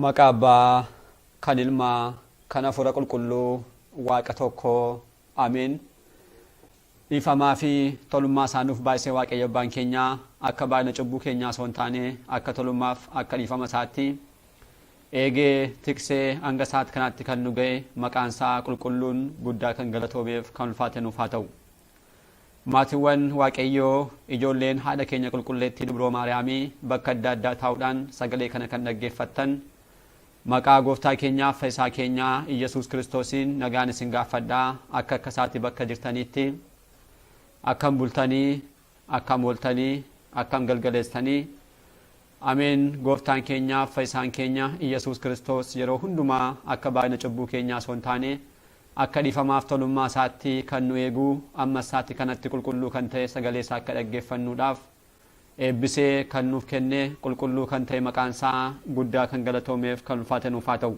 Maqaa Abbaa, kan Ilmaa, kan Hafuura Qulqulluu, Waaqa tokko. Ameen. Dhiifamaa fi tolummaa isaa nuuf baay'isee Waaqayyo Abbaan keenya akka baay'ina cubbuu keenyaa osoo hin taane akka tolummaaf akka dhiifama isaatti eegee tiksee hanga sa'aat kanaatti kan nu ga'e maqaan isaa qulqulluun guddaa kan galatoomeef kan ulfaate nuuf haa ta'u. Maatiwwan Waaqayyoo, ijoolleen Haadha keenya Qulqulleettii Dubroo Maariyaamii bakka adda addaa taa'uudhaan sagalee kana kan dhaggeeffattan, maqaa Gooftaa keenyaaf Fayisaa keenyaa Iyyasuus Kiristoosiin nagaan isin gaaffadha, akka akka isaati bakka jirtaniitti, akkam bultanii, akkam ooltanii, akkam galgaleessitanii, Ameen Gooftaan keenya Fayyisaan keenya Iyyasuus Kiristoos yeroo hundumaa akka baay'ina cubbuu keenyaa osoo hin taane akka dhiifamaaf tolummaa isaatti kan nu eegu ammas sa'atii kanatti qulqulluu kan ta'e sagalee isaa akka dhaggeeffannuudhaaf eebbisee kan nuuf kenne qulqulluu kan ta'e maqaan isaa guddaa kan galatoomeef kan ulfaate nuuf haa ta'u.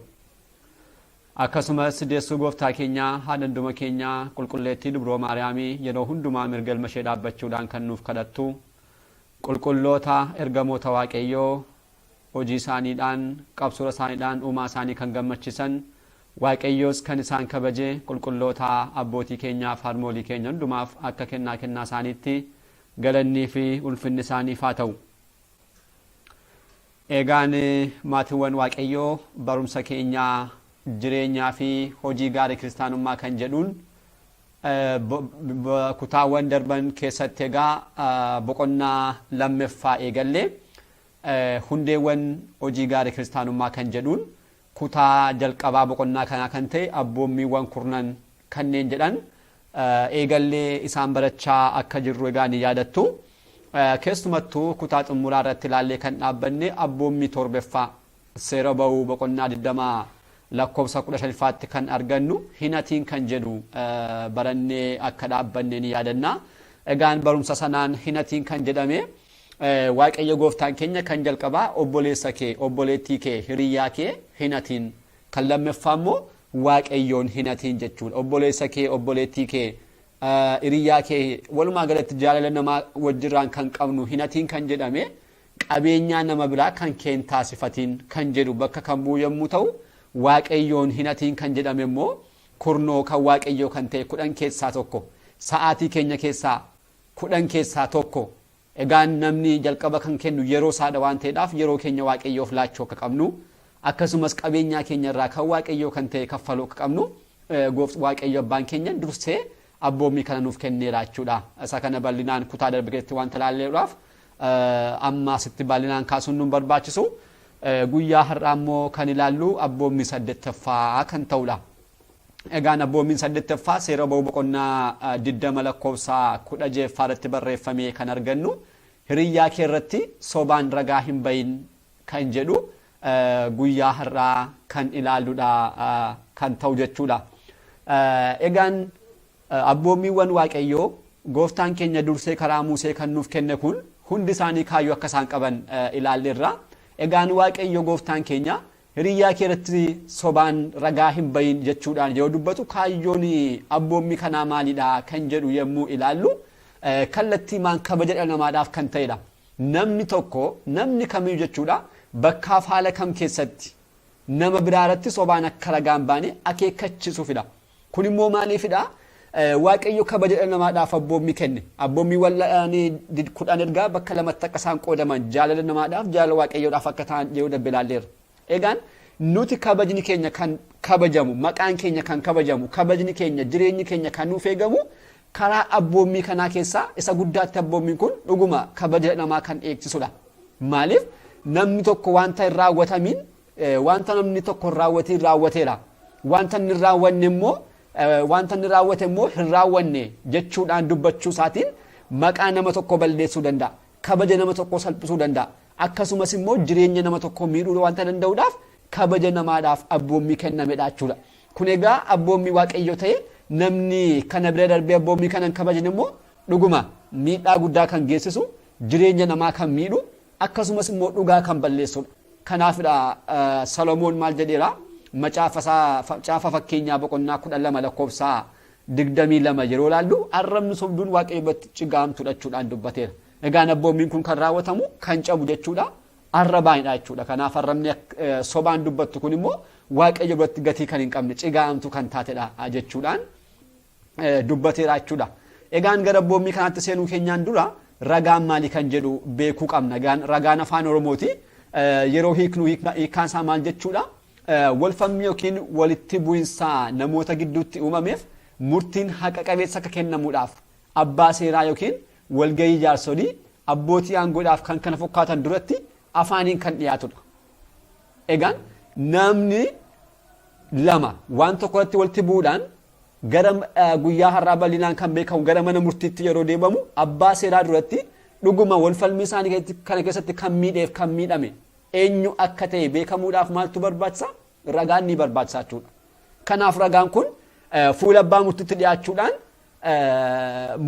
Akkasumas deessuu gooftaa keenyaa haadha hunduma keenyaa qulqulleettii dubroo Maariyaamii yeroo hundumaa mirga ilma ishee dhaabbachuudhaan kan nuuf kadhattu Qulqulloota ergamoota Waaqayyoo hojii isaaniidhaan, qabsura isaaniidhaan uumaa isaanii kan gammachisan, Waaqayyoos kan isaan kabaje qulqulloota abbootii keenyaaf harmoolii keenya hundumaaf akka kennaa kennaa isaaniitti galannii fi ulfinni isaaniif haa ta'u. Eegaan maatiwwan Waaqayyoo barumsa keenya jireenyaa fi hojii gaarii kiristaanummaa kan jedhuun Kutaawwan darban keessatti egaa boqonnaa lammeffaa eegallee hundeewwan hojii gaarii kiristaanummaa kan jedhuun kutaa jalqabaa boqonnaa kanaa kan ta'e abboommiiwwan kurnan kanneen jedhan eegallee isaan barachaa akka jirru egaa ni yaadattu. Keessumattuu kutaa xumuraa irratti ilaallee kan dhaabbanne abboommii torbeffaa Seera Ba'uu boqonnaa 20 lakkoofsa 15 faatti kan argannu hin hatiin kan jedhu barannee akka dhaabbanne ni yaadanna. Egaan barumsa sanaan hin hatiin kan jedhame Waaqayyo gooftaan keenya kan jalqabaa obboleessa kee, obboleettii kee, hiriyyaa kee hin hatiin. Kan lammaffaa immoo Waaqayyoon hin hatiin jechuudha. Obboleessa kee, obboleettii kee, hiriyyaa kee walumaa galatti jaalala namaa wajjirraan kan qabnu hin hatiin kan jedhame Qabeenyaa nama biraa kan kee hin taasifatiin kan jedhu bakka kan bu'u yommuu ta'u, Waaqayyoon hin hatiin kan jedhame immoo kurnoo kan Waaqayyoo kan ta'e kudhan keessaa tokko, sa'aatii keenya keessaa kudhan keessaa tokko. Egaa namni jalqaba kan kennu yeroo isaa dha waan ta'eedhaaf yeroo keenya Waaqayyoof laachuu akka qabnu, akkasumas qabeenyaa keenya irraa kan Waaqayyoo kan ta'e kaffaluu akka qabnu Waaqayyo abbaan keenya dursee abboommii kana nuuf kenneera jechuudha. Isa kana bal'inaan kutaa darbe keessatti wanta ilaalleedhaaf amma asitti bal'inaan kaasuun nu hin barbaachisu. Guyyaa har'aa immoo kan ilaallu abboommii saddeettaffaa kan ta'udha. Egaan abboommiin saddeettaffaa seera ba'uu boqonnaa 20 lakkoofsa 16ffaa irratti barreeffamee kan argannu hiriyyaa kee irratti sobaan ragaa hin bahin kan jedhu guyyaa har'aa kan ilaalludha kan ta'u jechuudha. Egaan abboommiiwwan Waaqayyoo gooftaan keenya dursee karaa Musee kan nuuf kenne kun hundi isaanii kaayyoo akka isaan qaban ilaalleerra. Egaan Waaqayyo gooftaan keenya hiriyyaa kee irratti sobaan ragaa hin bahin jechuudhaan yoo dubbatu kaayyoon abboommii kanaa maalidha kan jedhu yommuu ilaallu kallattiimaan kabaja dhala namaadhaaf kan ta'edha. Namni tokko, namni kamiyyuu jechuudha, bakkaaf haala kam keessatti nama biraaratti sobaan akka ragaa hin baane akeekkachiisuufidha. Kun immoo maaliifidha? Waaqayyo kabaja dhala namaadhaaf abboommii kenne. Abboommiiwwan kudhan ergaa bakka lamatti akka isaan qoodaman jaalala namaadhaaf, jaalala Waaqayyoodhaaf akka ta'an yeroo darbe ilaalleerra. Egaan nuti kabajni keenya kan kabajamu, maqaan keenya kan kabajamu, kabajni keenya, jireenyi keenya kan nuuf eegamu karaa abboommii kanaa keessaa isa guddaatti abboommiin kun dhuguma kabaja namaa kan eegsisudha. Maaliif namni tokko wanta hin raawwatamiin wanta namni tokko hin raawwatiin raawwateera. Wanta inni hin raawwanne immoo wanta inni raawwate immoo hin raawwanne jechuudhaan dubbachuu isaatiin maqaa nama tokko balleessuu danda'a. kabaja nama tokkoo salphisuu danda'a. Akkasumas immoo jireenya nama tokkoo miidhuu wanta danda'uudhaaf kabaja namaadhaaf abboommii kennamedha jechuudha. Kun egaa abboommii waaqayyoo ta'e namni kana bira darbee abboommii kana hin kabajne immoo dhuguma miidhaa guddaa kan geessisu jireenya namaa kan miidhu akkasumas immoo dhugaa kan balleessudha. Kanaafidha Salomoon maal jedheera? Macaafa isaa caafa fakkeenyaa boqonnaa kudha lama lakkoofsa 22 yeroo ilaallu arrabni sobduun Waaqayyo biratti cigaa hamtuudha jechuudhaan dubbateera. Egaan abboommiin kun kan raawwatamu kan cabu jechuudha arrabaanidha jechuudha. Kanaaf arrabni sobaan dubbattu kun immoo Waaqayyo biratti gatii kan hin qabne cigaa hamtuu kan taatedha jechuudhaan dubbateera jechuudha. Egaan gara abboommii kanaatti seenuu keenyaan dura ragaan maalii kan jedhu beekuu qabna. Egaan ragaan afaan Oromooti. Yeroo hiiknu hiikkaan isaa maal jechuudha? Walfalmii ykn walitti bu'insa namoota gidduutti uumameef murtiin haqa qabeessa akka kennamuudhaaf abbaa seeraa ykn walgahii jaarsolii, abbootii aangoodhaaf kan kana fokkaatan duratti afaaniin kan dhiyaatudha. Egaan naamni lama waan tokko irratti walitti bu'uudhaan gara guyyaa har'aa bal'inaan kan beekamu gara mana murtiitti yeroo deebamu abbaa seeraa duratti dhuguma walfalmii isaanii kana keessatti kan miidheef kan miidhame eenyu akka ta'e beekamuudhaaf maaltu barbaachisa? Ragaan ni barbaachisa jechuudha. Kanaaf ragaan kun fuula abbaa murtiitti dhiyaachuudhaan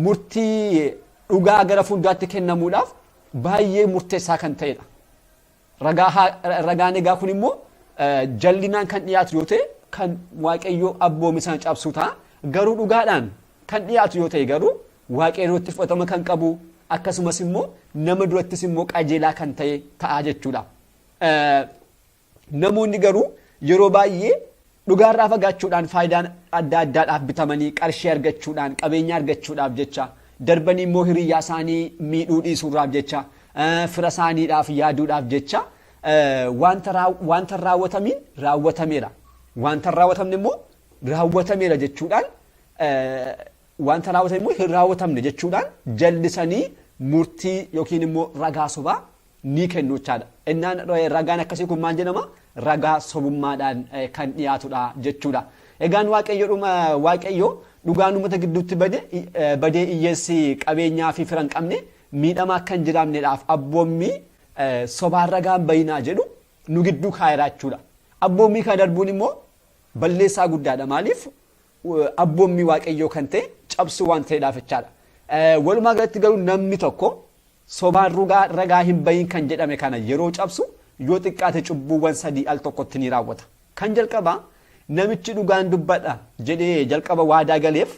murtii dhugaa gara fuulduraatti kennamuudhaaf baay'ee murteessaa kan ta'edha. Ragaan egaa kun immoo jallinaan kan dhiyaatu yoo ta'e kan waaqayyoo abboome sana cabsuu ta'a. Garuu dhugaadhaan kan dhiyaatu yoo ta'e garuu Waaqee duratti fudhatama kan qabu akkasumas immoo nama durattis immoo qajeelaa kan ta'e ta'a jechuudha. Namoonni garuu yeroo baay'ee dhugaarraa fagaachuudhaan faayidaan adda addaadhaaf bitamanii qarshii argachuudhaan qabeenya argachuudhaaf jecha darbanii immoo hiriyyaa isaanii miidhuu dhiisuurraaf jecha fira isaaniidhaaf yaaduudhaaf jecha wanta raawwatamiin raawwatameera. Wanta raawwatamne immoo raawwatameera jechuudhaan wanta raawwatan immoo hin raawwatamne jechuudhaan jallisanii murtii yookiin immoo ragaa sobaa ni kennu jechaadha. Innaan ragaan akkasii kun maal jedhama? Ragaa sobummaadhaan kan dhiyaatudha jechuudha. Egaan waaqayyo dhugaan uummata gidduutti badee hiyyeessi qabeenyaa fi fira hin qabne miidhamaa akka hin jiraanneedhaaf abboommii sobaan ragaan bayinaa jedhu nu gidduu kaa'eera jechuudha. Abboommii kana darbuun immoo balleessaa guddaadha. Maaliif? abboommii waaqayyoo kan ta'e cabsuu waan ta'eedhaaf jechaadha. Walumaa galatti garuu namni tokko sobaan rugaa ragaa hin bahin kan jedhame kana yeroo cabsu yoo xiqqaate cubbuuwwan sadii al tokkotti ni raawwata. Kan jalqabaa namichi dhugaan dubbadha jedhee jalqaba waadaa galeef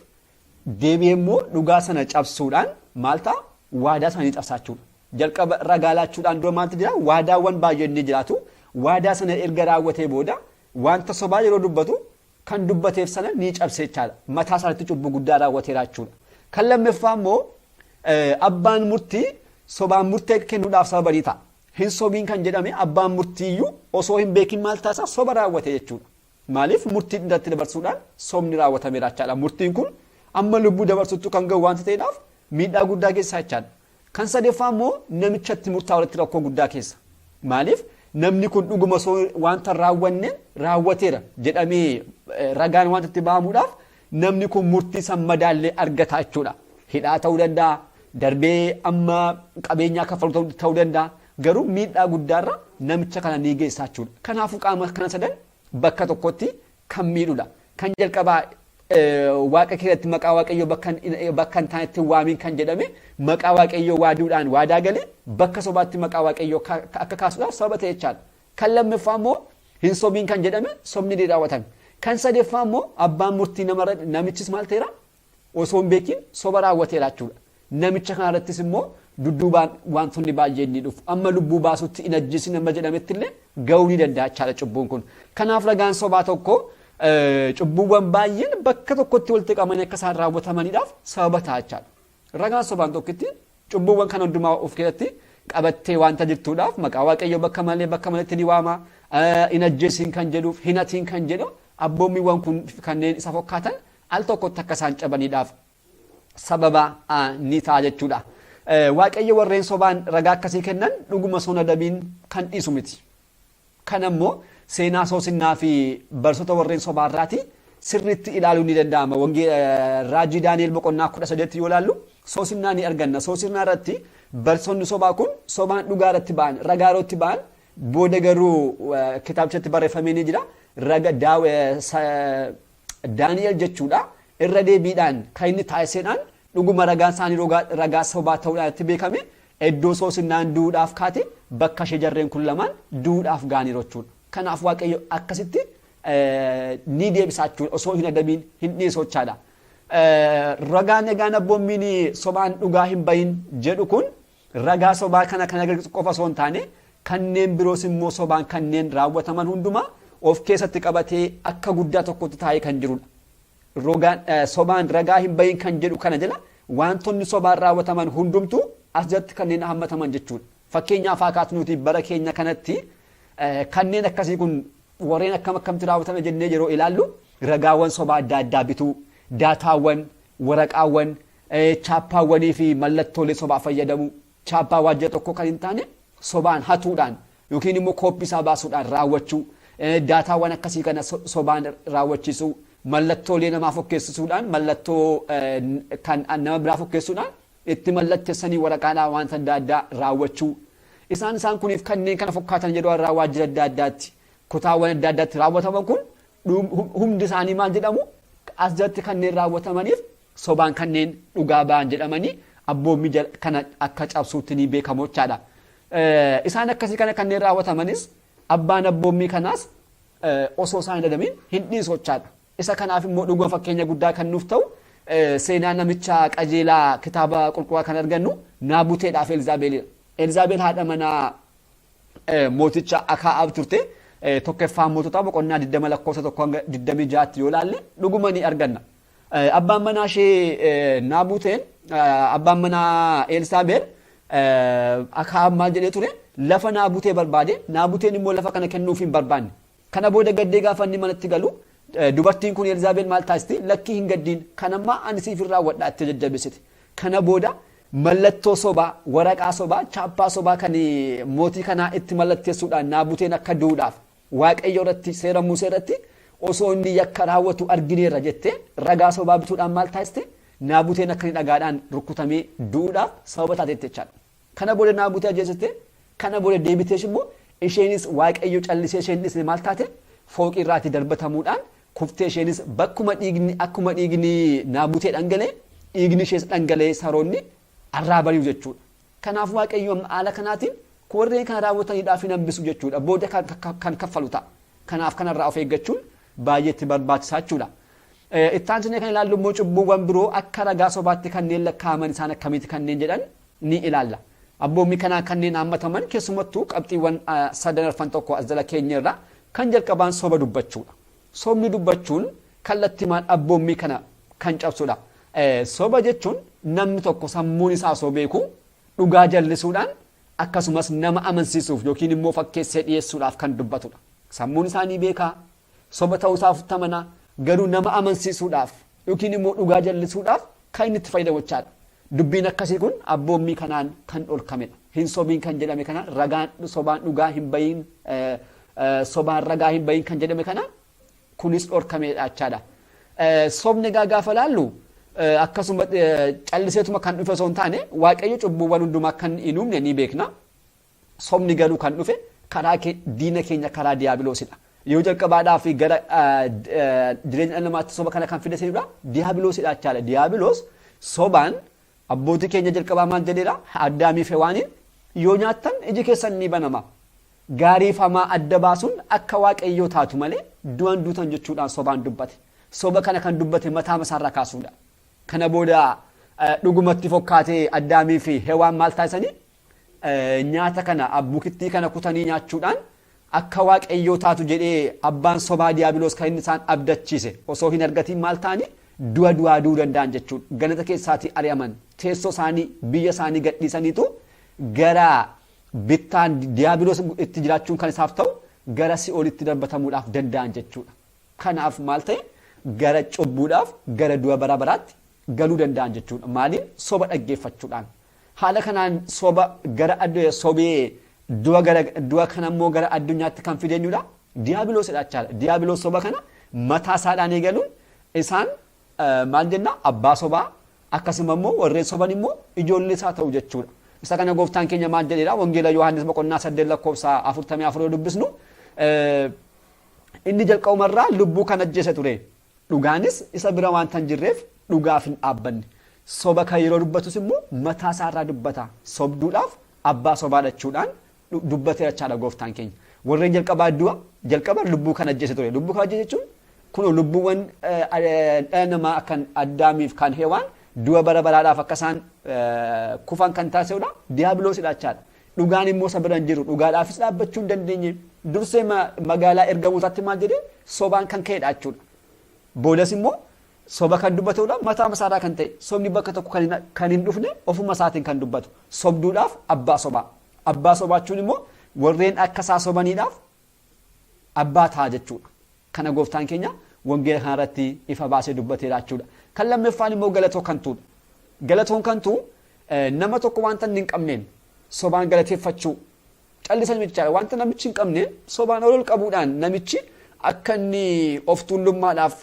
deebi'ee immoo dhugaa sana cabsuudhaan maal ta'a waadaa sana ni cabsaachuudha. Jalqaba ragaa laachuudhaan dura maaltu jira waadaawwan baay'een ni jiraatu. Waadaa sana erga raawwatee booda wanta sobaa yeroo dubbatu kan dubbateef sana ni cabse jechaadha. Mataa isaarratti cubbuu guddaa raawwateera jechuudha. Kan lammaffaa immoo abbaan murtii sobaan murtee kennuudhaaf sababa ni ta'a. Hin sobiin kan jedhame abbaan murtiiyyuu osoo hin beekin maal taasisaa soba raawwate jechuudha. Maaliif murtii irratti dabarsuudhaan sobni raawwatameera jechaadha. Murtiin kun amma lubbuu dabarsuttu kan ga'u waanta ta'eedhaaf miidhaa guddaa geessisaa jechaadha. Kan sadeeffaa immoo namicha itti murtaa'uratti rakkoo guddaa keessa. Maaliif namni kun dhuguma osoo wanta hin raawwanne raawwateera jedhamee ragaan wanta itti ba'amuudhaaf namni kun murtii san madaallee argata jechuudha. Hidhaa ta'uu danda'a, darbee amma qabeenyaa kaffalu ta'uu danda'a. Garuu miidhaa guddaarra namicha kana ni geessaa jechuudha. Kanaafuu qaama kana sadan bakka tokkotti kan miidhu dha. Kan jalqabaa waaqa kee irratti maqaa waaqayyoo bakka hin taanetti hin waamiin kan jedhame maqaa waaqayyoo waaduudhaan waadaa galee bakka sobaatti maqaa waaqayyoo akka kaasuudhaaf sababa ta'e jechaadha. Kan lammaffaa immoo hin sobiin kan jedhame sobni ni raawwatame. Kan sadeeffaa immoo abbaan murtii namarra namichis maal ta'eera osoo hin beekin soba raawwateera jechuudha. Namicha kana irrattis immoo dudduubaan waantonni baay'een ni dhufu. Amma lubbuu baasutti hin ajjeesin amma jedhametti illee ga'uu ni danda'a jechaadha cubbuun kun. Kanaaf ragaan sobaa tokko cubbuuwwan baay'een bakka tokkotti walitti qabamanii akka isaan raawwatamaniidhaaf sababa ta'a jechaadha. Ragaan sobaan tokkitti cubbuuwwan kana hundumaa of keessatti qabattee waanta jirtuudhaaf maqaa waaqayyoo bakka malee bakka maletti ni waama. Hin ajjeesin kan jedhuuf hin hatiin kan jedhu abboommiiwwan kun kanneen isa fakkaatan al tokkotti akka isaan cabaniidhaaf sababa ni ta'a jechuudha. Waaqayyo warreen sobaan ragaa akkasii kennan dhuguma sun adabiin kan dhiisu miti. Kan ammoo seenaa soosinnaa fi barsoota warreen sobaa irraati sirriitti ilaaluun ni danda'ama. Raajii Daani'el boqonnaa kudha saddeetti yoo ilaallu soosinnaa ni arganna. Soosinnaa irratti barsoonni sobaa kun sobaan dhugaa irratti ba'an ragaa irratti ba'an booda garuu kitaabichatti barreeffamee ni jira. Daani'el jechuudha irra deebiidhaan kan inni taasisedhaan dhuguma ragaan isaanii ragaa sobaa ta'uudhaan itti beekame iddoo soosinnaan du'uudhaaf kaate bakka ishee jarreen kun lamaan du'uudhaaf ga'aniiru jechuudha. Kanaaf waaqayyo akkasitti ni deebisaa jechuudha osoo hin adabiin hin dhiisu jechaadha. Ragaan egaan abboommiin sobaan dhugaa hin bahin jedhu kun Ragaa sobaa kana kan agarsiisu qofa osoo hin taane kanneen biroos immoo sobaan kanneen raawwataman hundumaa of keessatti qabatee akka guddaa tokkotti taa'ee kan jirudha. Rogaan eh, sobaan ragaa hin bahin kan jedhu kana jala wantoonni sobaan raawwataman hundumtuu as jalatti kanneen hammataman jechuudha. Fakkeenyaaf haa kaasnu nuti bara keenya kanatti eh, kanneen akkasii kun warreen akkam akkamti raawwatame jennee yeroo ilaallu ragaawwan sobaa adda addaa bituu, daataawwan, waraqaawwan, Chaappaawwanii fi mallattoolee sobaa fayyadamuu, chaappaa waajjira tokkoo kan hin taane sobaan hatuudhaan yookiin immoo kooppii isaa baasuudhaan raawwachuu, daataawwan akkasii kana sobaan raawwachiisuu, mallattoolee namaa fokkeessisuudhaan mallattoo kan nama biraa fokkeessuudhaan itti mallattessanii waraqaadhaan waanta adda addaa raawwachuu, isaan isaan kuniif kanneen kana fokkaatan yeroo har'aa waajjira adda addaatti kutaawwan adda addaatti raawwataman kun hundi isaanii maal jedhamu as jalatti kanneen raawwatamaniif sobaan kanneen dhugaa ba'an jedhamanii abboommii jal- kana akka cabsuutti ni beekamu jechaadha. Eh, Isaan akkasii kana kanneen raawwatamanis abbaan abboommii kanaas eh, osoo isaan hin adabiin hin dhiisu jechaadha. Isa kanaaf immoo dhuguma fakkeenya guddaa kan nuuf ta'u eh, seenaa namicha qajeelaa kitaaba qulqulluu kan argannu Naabuteedhaaf Elizaabeelidha. Elizaabeel haadha manaa eh, mooticha Akaa'aab turte eh, tokkeffaa moototaa boqonnaa 20 lakkoofsa 1 hanga 26tti yoo ilaalle dhuguma ni arganna. Abbaan manaa ishee Naabuteen abbaan manaa Eelsaabeer Akaab maal jedhee ture lafa Naabutee barbaade Naabuteen immoo lafa kana kennuuf hin barbaanne. Kana booda gaddee gaafa inni manatti galu dubartiin kun Elzaabeel maal taasisti lakkii hin gaddiin kan ammaa ani siif hin raawwadha itti jajjabeessite. Kana booda mallattoo sobaa waraqaa sobaa chaappaa sobaa kan mootii kanaa itti mallatteessuudhaan Naabuteen akka duudhaaf Waaqayyo irratti, seera Musee irratti osoo inni yakka raawwatu argineerra jettee ragaa sobaa bituudhaan maal taasiste? Naabuteen akka inni dhagaadhaan rukkutamee du'uudhaaf sababa taateetti jechaadha. Kana booda Naabutee ajjeesiste, kana booda deebiteesh immoo isheenis Waaqayyo callisee isheen dhisne maal taate? Fooqii irraatii darbatamuudhaan kuftee isheenis bakkuma dhiigni akkuma dhiigni Naabutee dhangalee dhiigni ishees dhangalee saroonni arraabaniiru jechuudha. Kanaaf Waaqayyo haala kanaatiin warreen kana raawwatan hidhaaf hin hambisu jechuudha. Booda kan kaffalu ta'a. Kanaaf kanarraa of eeggachuun baay'ee itti barbaachisaa jechuudha. Itti aansinee kan ilaallu immoo cubbuuwwan biroo akka ragaa sobaatti kanneen lakkaa'aman isaan akkamiiti kanneen jedhan ni ilaalla. Abboommii kanaan kanneen haammataman keessumattuu qabxiiwwan sadan arfan tokko as jala keenyerra kan jalqabaan soba dubbachuudha. Sobni dubbachuun kallattimaan abboommii kana kan cabsudha. Soba jechuun namni tokko sammuun isaa osoo beekuu dhugaa jallisuudhaan akkasumas nama amansiisuuf yookiin immoo fakkeessee dhiyeessuudhaaf kan dubbatudha. Sammuun isaa ni beeka, soba ta'uu isaa ofitti amana, garuu nama amansiisuudhaaf yookiin immoo dhugaa jallisuudhaaf kan inni itti fayyadamochaadha. Dubbiin akkasii kun abboommii kanaan kan dhorkamedha. Hin sobiin kan jedhame kana ragaan sobaan dhugaa hin bahiin sobaan ragaa hin bahiin kan jedhame kana kunis dhorkamedha jechaadha. Sobni egaa gaafa laallu akkasuma calliseetuma kan dhufe osoo hin taane waaqayyo cubbuuwwan hundumaa kan hin uumne ni beekna. Sobni garuu kan dhufe karaa ke- diina keenya karaa diyaabiloosidha. Yeroo jalqabaadhaaf gara ah, d- ah, jireenya dhala namaatti soba kana kan fide seenudha diyaabiloosidha jechaadha. Diyaabiloos sobaan abbootii keenya jalqabaa maal jedheera addaamii fi hewaaniin yoo nyaattan iji keessan ni banama. Gaarii fi hamaa adda baasuun akka waaqayyoo taatu malee du'an duutan jechuudhaan sobaan dubbate. Soba kana kan dubbate mataa masaarraa kaasuudha. Kana booda eh, dhugumatti fokkaatee addaamii fi hewaan maal taasisanii nyaata kana abbukittii kana kutanii nyaachuudhaan akka waaqayyoo taatu jedhee abbaan sobaa diyaabiloos kan inni isaan abdachiise osoo hin argatiin maal ta'anii du'a du'aa du'uu danda'an jechuun ganata keessaatii ari'aman teessoo isaanii biyya isaanii gadhiisaniitu gara bittaan diyaabiloos itti jiraachuun kan isaaf ta'u gara si'oolitti darbatamuudhaaf danda'an jechuudha. Kanaaf maal ta'e gara cubbuudhaaf gara du'a bara baraatti galuu danda'an jechuudha. Maaliin soba dhaggeeffachuudhaan Haala kanaan soba gara addunyaa sobee du'a gara du'a kana immoo gara addunyaatti kan fide eenyudha? Diyaabiloosidha jechaadha. Diyaabiloos soba kana mataa isaadhaan eegaluun isaan maal jenna abbaa sobaa akkasuma immoo warreen soban immoo ijoollee isaa ta'u jechuudha. Isa kana gooftaan keenya maal jedheera wangeela Yohaannis boqonnaa saddeet lakkoofsa afurtamii afur yoo dubbisnu inni jalqabumarraa lubbuu kan ajjeese ture. Dhugaanis isa bira waanta hin jirreef dhugaaf hin dhaabbanne. Soba kan yeroo dubbatus immoo mataa isaa irraa dubbata. Sobduudhaaf abbaa sobaa dhachuudhaan dubbateera jechaadha gooftaan keenya. Warreen jalqabaa du'a jalqaba lubbuu kan ajjeese ture. Lubbuu kan ajjeese jechuun kunoo lubbuuwwan dhala namaa kan Addaamiif kan Hewaan du'a bara baraadhaaf akka isaan kufan kan taasisudha. Diyaabiloosidha jechaadha. Dhugaan immoo isa bira hin jiru. Dhugaadhaafis dhaabbachuu hin dandeenye. Dursee magaalaa ergamootaatti maal jedhee sobaan kan ka'edha jechuudha. Boodas immoo soba kan dubbatudha mataa masaarraa kan ta'e sobni bakka tokko kan hin dhufne ofuma isaatiin kan dubbatu sobduudhaaf abbaa sobaa. Abbaa sobaa jechuun immoo warreen akka isaa sobaniidhaaf abbaa ta'a jechuu dha. Kana gooftaan keenya wangeela kana irratti ifa baasee dubbateera jechuu dha. Kan lammaffaan immoo galatoo kantuu dha. Galatoon kantuu nama tokko wanta inni hin qabneen sobaan galateeffachuu callisanii miti jechaadha. Wanta namichi hin qabne sobaan ol ol qabuudhaan namichi akka inni of tuullummaadhaaf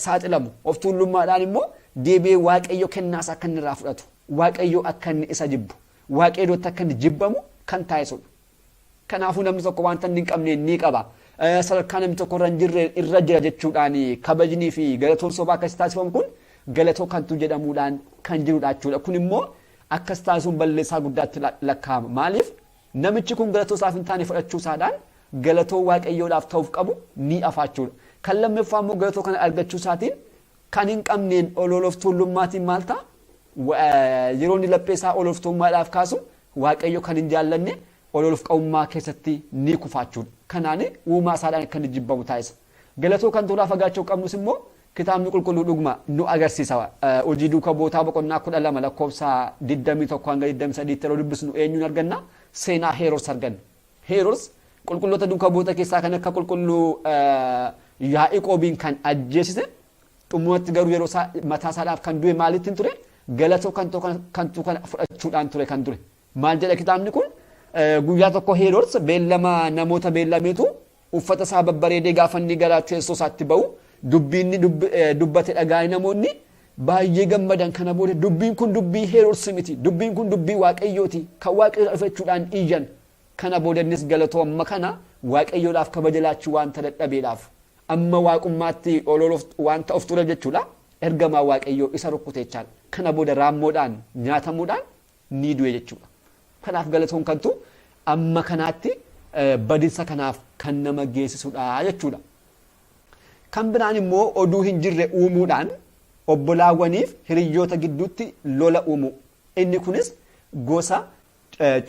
saaxilamu of tuullummaadhaan immoo deebi'ee waaqayyo kennaas akka inni irraa fudhatu waaqayyo akka inni isa jibbu waaqayyootti akka inni jibbamu kan taasisudha. Kanaafuu namni tokko wanta inni hin qabne ni qaba. Sadarkaa namni tokko irra hin jirre irra jira jechuudhaan kabajnii fi galatoon sobaa akkasii taasifamu kun galatoo kantuu jedhamuudhaan kan jirudha jechuudha. Kun immoo akkas taasisuun balleessaa guddaatti lakkaa'ama. Maaliif namichi kun galatoo isaaf hin taane fudhachuu isaadhaan galatoo waaqayyoodhaaf ta'uuf qabu ni afaachuudha. Kan lammaffaa immoo galatoo kana argachuu isaatiin kan hin qabneen ol ol of tuullummaatiin maal ta'a? Yeroo inni laphee isaa ol of tuulummaadhaaf kaasu Waaqayyo kan hin jaallanne ol ol of qabummaa keessatti ni kufaachuudha. Kanaan uumaa isaadhaan akka inni jibbamu taasisa. Galatoo kan tolaa fagaachuu qabnus immoo kitaabni qulqulluu dhuguma nu agarsiisa. Hojii duuka bootaa boqonnaa kudha lama lakkoofsa 21 hanga 23 tti yeroo dubbisnu eenyuun arganna? Seenaa Heeroos arganna. Heerods qulqulloota duuka bu'oota keessaa kan akka qulqulluu Yaa'iqoobiin kan ajjeesise xumuratti garuu yeroo isaa mataa isaadhaaf kan du'e maalittiin ture galatoo kan ta'u kan ta'u kana fudhachuudhaan ture kan ture maal jedha kitaabni kun guyyaa tokko Heerods beellama namoota beellameetu Uffata isaa babbareedee gaafa inni gara teessoo isaatti ba'u dubbii inni dubbate dhagaa'ee namoonni baay'ee gammadan kana booda dubbiin kun dubbii Heerodsi miti dubbiin kun dubbii waaqayyooti kan waaqayyo dhufe jechuudhaan iyyan kana booda innis galatoo amma kana waaqayyoodhaaf kabaja laachuu wanta dadhabeedhaaf amma waaqummaatti ololuuf wanta of ture jechuudha ergamaa waaqayyoo isa rukkuteechaan kana booda raammoodhaan nyaatamuudhaan ni du'e jechuudha. Kanaaf galatoon kantu amma kanaatti badinsa kanaaf kan nama geessisudha jechuudha. Kan biraan immoo oduu hin jirre uumuudhaan obbolaawwaniif hiriyyoota gidduutti lola uumu. Inni kunis gosa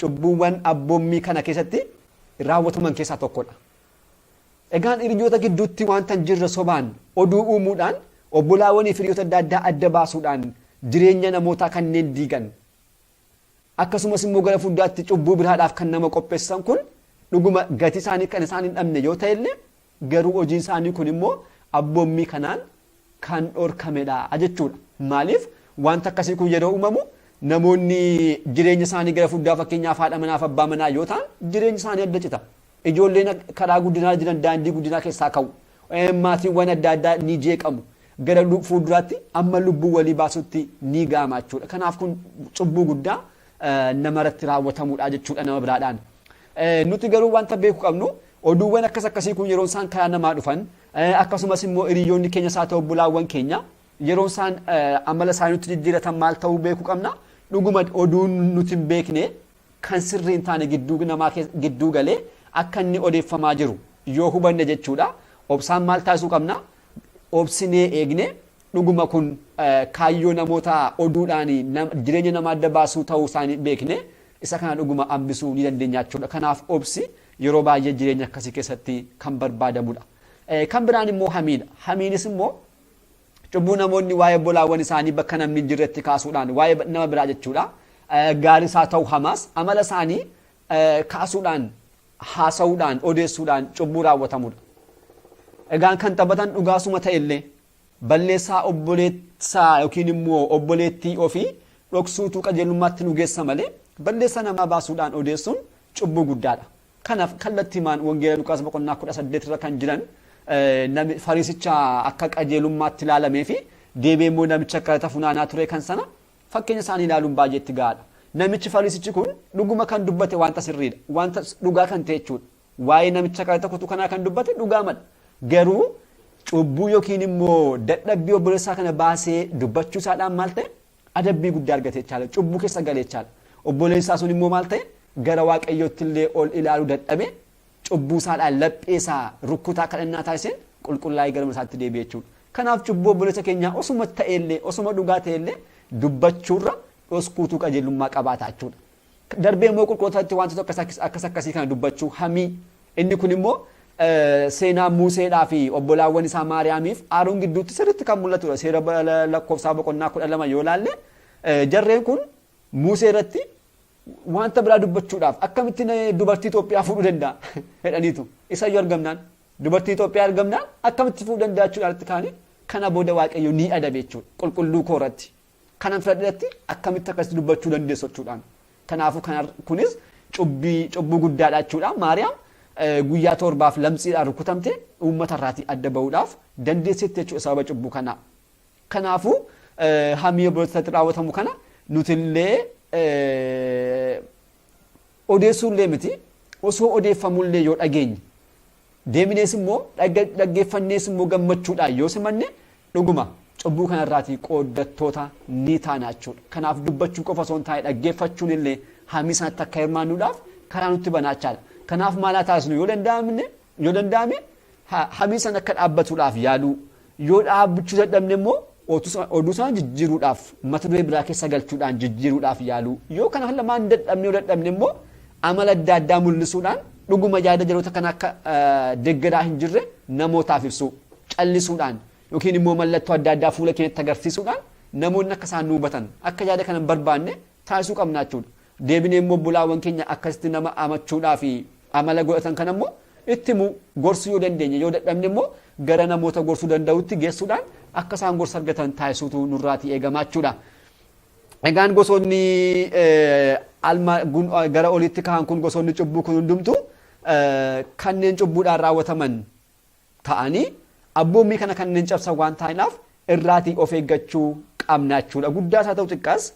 cubbuuwwan abboommii kana keessatti raawwataman keessaa tokkodha. Egaan hiriyoota gidduutti waanta hin jirre sobaan oduu uumuudhaan obbolaawwanii fi hiriyoota adda addaa adda baasuudhaan jireenya namootaa kanneen diigan akkasumas immoo gara fuulduraatti cubbuu biraadhaaf kan nama qopheessan kun dhuguma gatii isaanii kan isaan hin dhabne yoo ta'e illee garuu hojiin isaanii kun immoo abboommii kanaan kan dhorkamedha jechuudha. Maaliif wanta akkasii kun yeroo uumamu namoonni jireenya isaanii gara fuulduraa fakkeenyaaf haadha manaaf abbaa manaa yoo ta'an jireenya isaanii adda cita. Ijoolleen karaa guddinaa jiran daandii guddinaa keessaa ka'u. Maatiiwwan adda addaa ni jeeqamu. Gara fuulduraatti amma lubbuu walii baasutti ni ga'ama jechuudha. Kanaaf kun cubbuu guddaa namarratti raawwatamudha jechuudha nama biraadhaan. Nuti garuu wanta beeku qabnu oduuwwan akkas akkasii kun yeroon isaan karaa namaa dhufan akkasumas immoo hiriyoonni keenya isaa ta'u bulaawwan keenya yeroon isaan amala isaanii nutti jijjiiratan maal ta'uu beeku qabna dhuguma oduun nuti hin beekne kan sirrii hin taane gidduu namaa gidduu galee akka inni odeeffamaa jiru yoo hubanne jechuudha obsaan maal taasisuu qabna obsinee eegne Dhuguma kun kaayyoo namoota oduudhaan jireenya nama adda baasuu ta'uu isaa hin beekne isa kana dhuguma hambisuu ni dandeenya jechuudha. Kanaaf obsi yeroo baay'ee jireenya akkasii keessatti kan barbaadamudha. Kan biraan immoo hamiidha. Hamiinis immoo cubbuu namoonni waa'ee obbolaawwan isaanii bakka namni hin jirretti kaasuudhaan waa'ee nama biraa jechuudha. Gaarii isaa ta'u hamaas amala isaanii kaasuudhaan haasa'uudhaan odeessuudhaan cubbuu raawwatamudha. Egaan kan taphatan dhugaasuma ta'ellee Balleessaa obboleessaa yookiin immoo obboleettii ofii dhoksuutu qajeelummaatti nu geessa malee balleessaa namaa baasuudhaan odeessuun cubbuu guddaadha. Kanaaf kallattimaan Wangeela Luqaas boqonnaa 18 irra kan jiran fariisicha akka qajeelummaatti ilaalamee fi deebi'ee immoo namicha kadhata funaanaa ture kan sana fakkeenya isaanii ilaaluun baay'ee itti gahaadha. Namichi fariisichi kun dhuguma kan dubbate wanta sirriidha. Wanta dhugaa kan ta'e jechuudha. Waa'ee namicha qaraxa kutu kanaa kan dubbate dhugaamadha. Garuu cubbuu yookiin immoo dadhabbii obboleessaa kana baasee dubbachuu isaadhaan maal ta'e adabbii guddaa argate jechaadha. Cubbuu keessa gale jechaadha. Obboleessaa sun immoo maal ta'e gara waaqayyootti illee ol ilaaluu dadhabe cubbuu isaadhaan laphee isaa rukkutaa kadhannaa taasiseen qulqullaa'ee gara mana isaatti deebi'e jechuudha. Kanaaf cubbuu obboleessa keenyaa osuma ta'ellee osuma dhugaa ta'ellee dubbachuurra dhoskuutu qajeelummaa qabaata jechuudha. Darbee immoo qulqulootaatti wantoota akkas akkas akkasii kana dubbachuu hamii inni kun immoo seenaa Muuseedhaa fi obbolaawwan isaa Maariyaamiif Aaroon gidduutti sirriitti kan mul'atudha. Seera lakkoofsaa boqonnaa kudha lama yoo ilaalle jarreen kun Muusee irratti wanta biraa dubbachuudhaaf akkamittiin dubartii Itoophiyaa fuudhuu danda'a jedhaniitu. Isayyuu argamnaan dubartii Itoophiyaa argamnaan akkamitti fuudhuu danda'a jechuudhaan irratti kaanii kana booda waaqayyo ni adabe jechuudha qulqulluu koo irratti. Kanan filadhetti akkamitti akka itti dubbachuu dandeessu jechuudhaan. Kanaafuu kunis cubbuu guddaadha jechuudha. Maariyaam guyyaa torbaaf lamsiidhaan rukutamte uummata irraatii adda bahuudhaaf dandeesseetti jechuudha sababa cubbuu kanaa. Kanaafuu hamii obbolootatti raawwatamu kana nutillee odeessuullee miti osoo odeeffamullee yoo dhageenye Deebinees immoo dhaggeeffannees immoo gammachuudhaan yoo simanne dhuguma cubbuu kanarraatii qooddattoota ni taana jechuudha. Kanaaf dubbachuu qofa osoo hin taane dhaggeeffachuun illee hamii sanatti akka hirmaannuudhaaf karaa nutti banaa jechaadha. Kanaaf maal haa taasisnu yoo danda'amne yoo danda'ame hamii sana akka dhaabbatuudhaaf yaaluu Yoo dhaabbachuu dadhabne immoo oduu sana jijjiiruudhaaf mata duree biraa keessa galchuudhaan jijjiiruudhaaf yaaluu yoo kana lamaan dadhabne yoo dadhabne immoo amala adda addaa mul'isuudhaan dhuguma yaada jaroota kana akka deggeraa hin jirre namootaaf ibsuu callisuudhaan yookiin immoo mallattoo adda addaa fuula keenyatti agarsiisuudhaan namoonni akka isaan nu hubatan akka yaada kana hin barbaanne taasisuu qabna jechuu dha. Deebinee immoo obbolaawan keenya akkasitti nama amachuudhaa fi amala godhatan kana immoo itti himuu, gorsuu yoo dandeenye yoo dadhabne immoo gara namoota gorsuu danda'utti geessuudhaan akka isaan gorsa argatan taasisuutu nurraatii eegamaa jechuu dha. Egaan gosoonni alma gara oliitti ka'an kun gosoonni cubbuu kun hundumtu kanneen cubbuudhaan raawwataman ta'anii abboommii kana kanneen cabsan waan taa'inaaf irraatii of eeggachuu qabna jechuudha. Guddaas haa ta'u xiqqaas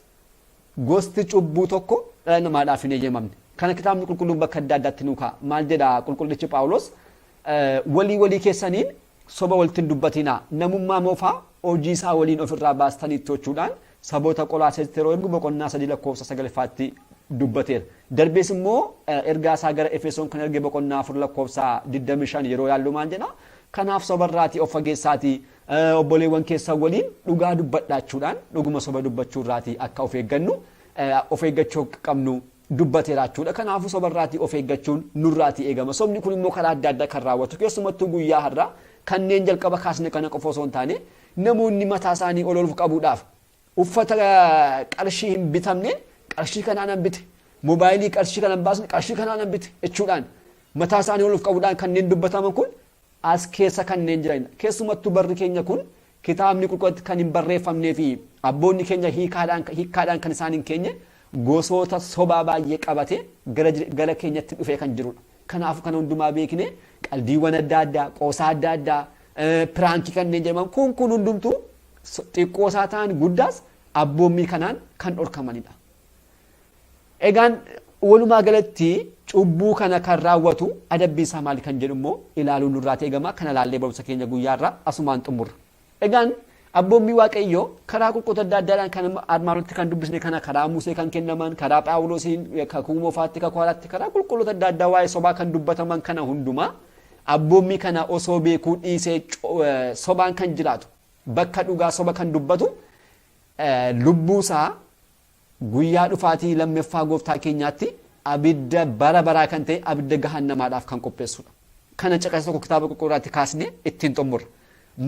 gosti cubbuu tokko dhala namaadhaaf hin eeyyamamne. Kana kitaabni qulqulluun bakka adda addaatti nuu kaa'a. Maal jedha qulqullichi Phaawulos? Walii walii keessaniin soba walitti hin dubbatinaa. Namummaa moofaa hojii isaa waliin ofirraa baastaniittu jechuudhaan saboota Qolaasees yeroo ergu boqonnaa 3 lakkoofsa 9 ffaatti dubbateera. Darbees immoo ergaa isaa gara Efesoon kan erge boqonnaa 4 lakkoofsa 25 yeroo yaallu maal jedha? Kanaaf soba irraatii of fageessaatii obboleewwan keessan waliin dhugaa dubbadhaachuudhaan dhuguma soba dubbachuu irraatii akka of eeggannu of eeggachuu qabnu dubbateera jechuudha. Kanaafuu soba irraatii of eeggachuun nurraatii eegama. Sobni kun immoo karaa adda addaa kan raawwatu keessumattuu guyyaa har'aa kanneen jalqaba kaasne kana qofa osoo hin taane namoonni mataa isaanii ol ol qabuudhaaf uffata qarshii hin bitamneen qarshii kanaanan bite moobaayilii qarshii kanan baasne qarshii kanaanan bite jechuudhaan mataa isaanii ol of qabuudhaan kanneen dubbataman kun as keessa kanneen jiran dha. Keessumattuu barri keenya kun kitaabni qulqulatti kan hin barreeffamnee fi abboonni keenya hiikaadhaan hikkaadhaan kan isaan hin keenye gosoota sobaa baay'ee qabate gara jire- gara keenyatti dhufee kan jiru dha. Kanaafuu kana hundumaa beeknee qaldiiwwan adda addaa, qoosaa adda addaa, eh, piraankii kanneen jedhaman kun kun hundumtuu so- xiqqoo isaa ta'an guddaas abboommii kanaan kan dhorkamanidha. Egaan walumaa galatti cubbuu kana kan raawwatu adabbiin isaa maali kan jedhu immoo ilaaluun nurraati eegama kana laallee barumsa keenya guyyaa irraa asumaan xumurra. Egaan abboommii waaqayyoo karaa qulquutu adda addaadhaan kan armaan olitti kan dubbisne kana karaa Musee kan kennaman karaa Phaawulosiin kakuu moofaatti kakuu haaraatti karaa qulqulloota adda addaa waa'ee sobaa kan dubbataman kana hundumaa abboommii kana osoo beekuu dhiisee sobaan kan jiraatu bakka dhugaa soba kan dubbatu lubbuu isaa guyyaa dhufaatii lammeffaa gooftaa keenyaatti abidda bara baraa kan ta'e abidda gahannamaadhaaf kan qopheessudha. Kana caqasa tokko kitaaba qulqulluu irratti kaasnee ittiin xumurra.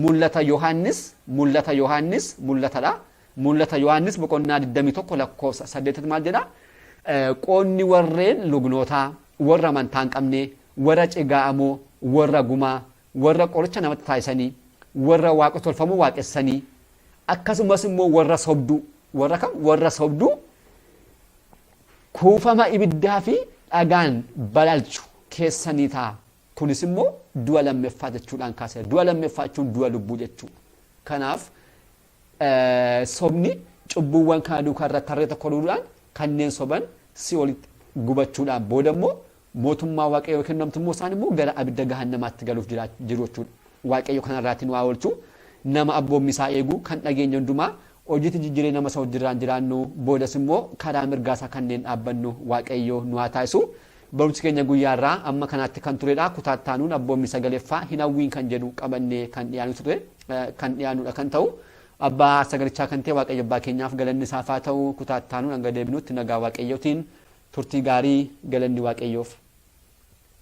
Mul'ata Yohaannis, mul'ata Yohaannis, mul'atadha. Mul'ata Yohaannis boqonnaa 21 lakkoofsa 8 maal jedha? Qoonni warreen lugnootaa, warra amantaa hin qabne, warra cigaa'amoo, warra gumaa, warra qoricha namatti taasisanii, warra waaqa tolfamoo waaqessanii, akkasumas immoo warra sobduu, warra kam? Warra sobduu kuufama ibiddaa fi dhagaan balalchu keessa ni ta'a. Kunis immoo du'a lammeffaa jechuudhaan kaasera. Du'a lammeffaa jechuun du'a lubbuu jechuudha. Kanaaf Sobni cubbuuwwan kana duukaa irra tarree tokko duudhaan kanneen soban si'oolitti gubachuudhaan booda immoo mootummaa waaqayyoo yoo kennamtu immoo isaan immoo gara abidda gahannamaatti galuuf jiru jechuudha. Waaqayyo kana irraatii nu haa oolchu. Nama abboommii isaa eegu kan dhageenye hundumaa hojiitti jijjiiree nama isa wajjirraan jiraannu boodas immoo karaa mirgaa isaa kanneen dhaabbannu waaqayyo nu haa taasisu. Barumsi keenya guyyaa irraa amma kanaatti kan turedha. Kutaa itti aanuun abboommii sagaleeffaa hin hawwiin kan jedhu qabannee kan dhiyaanu ture kan dhiyaanudha kan ta'u. Abbaa sagalichaa kan ta'e Waaqayyo Abbaa keenyaaf galanni isaaf haa ta'u kutaa itti aanuun hanga deebinutti nagaa Waaqayyootiin turtii gaarii galanni Waaqayyoof.